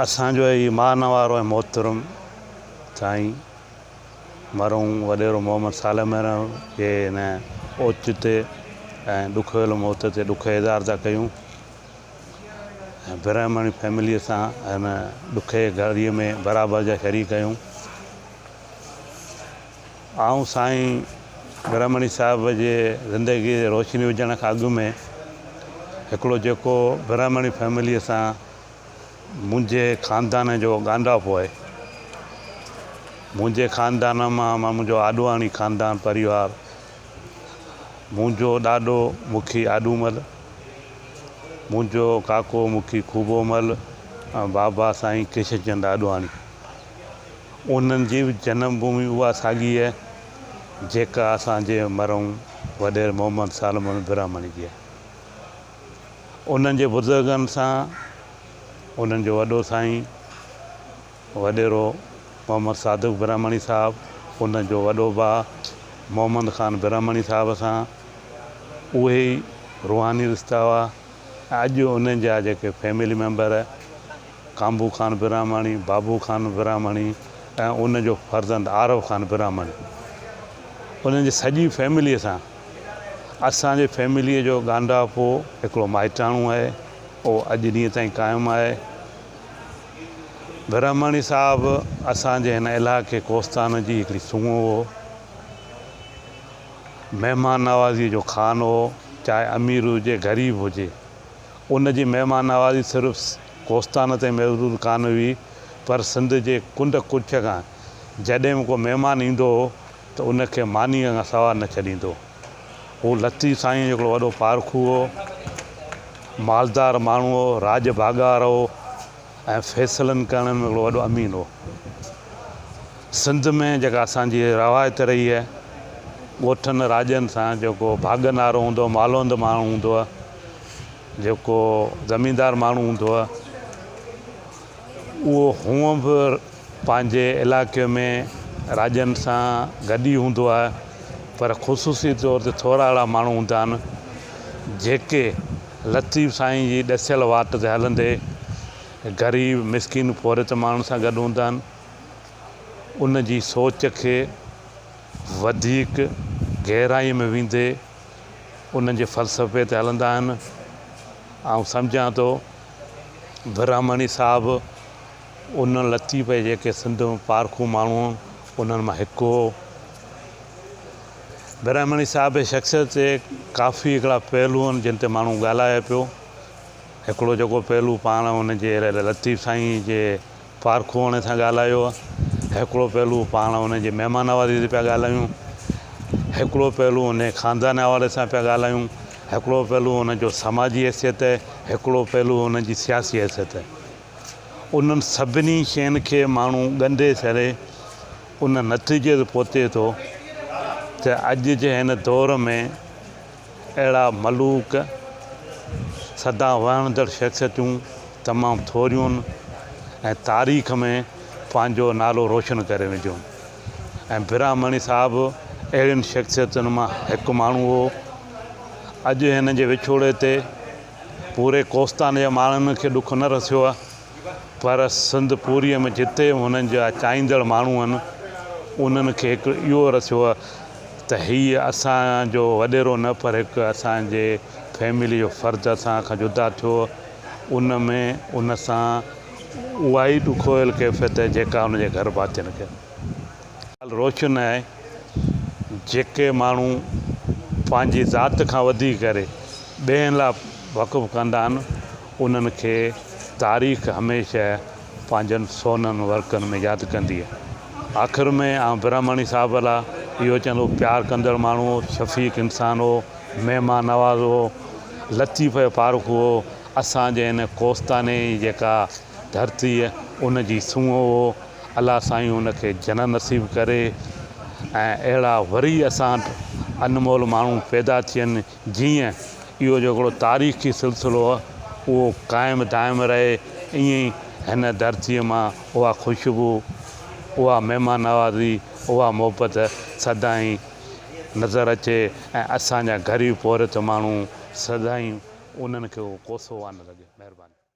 اسان جو اي مان وارو ۽ محترم سائين مرحوم وڏيرو محمد صالح ميرڻ جي هن اوچتي ۽ ڏکويل موت تي ڏک اظهار ٿا ڪيون ۽ برهمڻي فيمليء سان هن ڏکئي گهڙيء ۾ برابر جا شريڪ آهيون. آئون سائين برهمڻي صاحب جي زندگيء تي روشني وجهڻ کان اڳ ۾ هڪڙو جيڪو برهمڻي فيمليء سان منهنجي خاندان جو ڳانڍاپو آهي. منهنجي خاندان مان منهنجو آڏواڻي خاندان پريوار، منهنجو ڏاڏو مکي آڏومل، منهنجو ڪاڪو مکي خوبومل ۽ بابا سائين ڪشن چند آڏواڻي. انهن جي به جنم ڀومي اها ساڳي آهي، جيڪا اسان جي مرحوم وڏيري محمد سالمرحيم براهمڻي جي آهي. انهن جي بزرگن سان انهن جو وڏو سائين وڏيرو محمد صادق برهمڻي صاحب ان جو وڏو ڀاء محمد خان برهمڻي صاحب سان اهي ئي روحاني رشتا هئا اڄ انهن جا جيڪي فيملي ميمبر ڪانبو خان برهمڻي بابو خان برهمڻي ۽ ان جو فرزند عارف خان برهمڻي انهن جي سڄي فيملي سان اسان جي فيمليء جو ڳانڍاپو هڪڙو مائٽاڻو آهي. اهو اڄ ڏينهن تائين قائم آهي. برهماڻي صاحب اسان جي هن علائقي ڪوستان جي هڪڙي سونهن هو. مهمان نوازيء جو خان هو. چاهي امير هجي غريب هجي. ان جي مهمان نوازي صرف ڪوستان تائين محدود ڪانه هئي پر سنڌ جي ڪنڊ ڪڙڇ کان جڏهن به ڪو مهمان ايندو هو، ته ان کي مانيء کان سوا نه ڇڏيندو. هو لطيف سائينء جو هڪڙو وڏو پارکو هو. مالدار ماڻهو هو، راڄ ڀاڳار هو ۽ فيصلن ڪرڻ ۾ هڪڙو وڏو امين هو. سنڌ ۾ جيڪا اسان جي روايت رهي آهي، ڳوٺن راڄن سان جيڪو ڀاڳ نارو هوندو، مالوند ماڻهو هوندو، جيڪو زميندار ماڻهو هوندو، اهو هونء به پنهنجي علائقي ۾ راڄن سان گڏ ئي هوندو آهي پر خصوصي طور تي ٿورا اهڙا ماڻهو هوندا آهن جيڪي لطيف سائين جي ڏسيل واٽ تي هلندي غريب مسڪين پورهيت ماڻهن سان گڏ هوندا آهن ان جي سوچ کي وڌيڪ گهرائي ۾ ويندي انهن جي فلسفي تي هلندا آهن آئون سمجهان ٿو براهمڻي صاحب ان لطيف جي جيڪي سنڌ ۾ پارکو ماڻهو انهن مان هڪ هو. براهمڻي صاحب جي شخصيت جي ڪافي هڪڙا پهلو آهن جن تي ماڻهو ڳالهائي پيو هڪڙو جيڪو پهلو پاڻ ان جي لطيف سائين جي پارکوهاڻي سان ڳالهايو هڪڙو پهلو پاڻ ان جي مهمان نوازي تي پيا ڳالهايون هڪڙو پهلو ان جي خاندان حوالي سان پيا ڳالهايون هڪڙو پهلو ان جو سماجي حيثيت هڪڙو پهلو ان جي سياسي حيثيت انهن سڀني شين کي ماڻهو ڳنڍي سهري ان نتيجي تي پهتي ٿو ته اڄ جي هن دور ۾ اهڙا ملوڪ، سدا وهنجندڙ شخصيتون تمام ٿوريون ۽ تاريخ ۾ پنهنجو نالو روشن ڪري وينديون ۽ براهمڻي صاحب اهڙين شخصيتن مان هڪ ماڻهو هو. اڄ هن جي وڇوڙي تي پوري ڪوستان جي ماڻهن کي ڏک نه رسيو آهي. پر سنڌ پوريء ۾ جتي هنن جا چاهيندڙ ماڻهو هن، انهن کي هڪ اهو رسيو هو ته هيء اسان جو وڏيرو نه پر هڪ اسان جي فيمليء جو فرد اسان کان جدا ٿيو. ان ۾ ان سان اهائي ڏکويل ڪيفيت آهي جيڪا هن جي گهر ڀاتين کي هوندي. ڳالهه روشن آهي جيڪي ماڻهو پنهنجي ذات کان وڌي ڪري ٻين لاء وقف ڪندا هن، انهن کي تاريخ هميشه پنهنجن سونهن ورقن ۾ ياد ڪندي. آخر ۾ آئون براهمڻي صاحب لاء اهو چوندو پيار ڪندڙ ماڻهو هو، شفيق انسان هو، مهمان نواز هو، لطيف ۽ پارکو هو، اسان جي هن ڪوستاني جي جيڪا ڌرتي ان جي سونهن هو، الله سائين ان کي جنت نصيب ڪري ۽ اهڙا وري اسان وٽ انمول ماڻهو پيدا ٿين. جيئن اهو جيڪڙو تاريخي سلسلو اهو قائم دائم رهي ائين ئي هن ڌرتيء مان اها خوشبو اها مهمان نوازي اها محبت سدائين نظر اچي ۽ اسان جا غريب پورهيت ماڻهو سدائين انهن کي ڪوسو وانه لڳي مهرباني.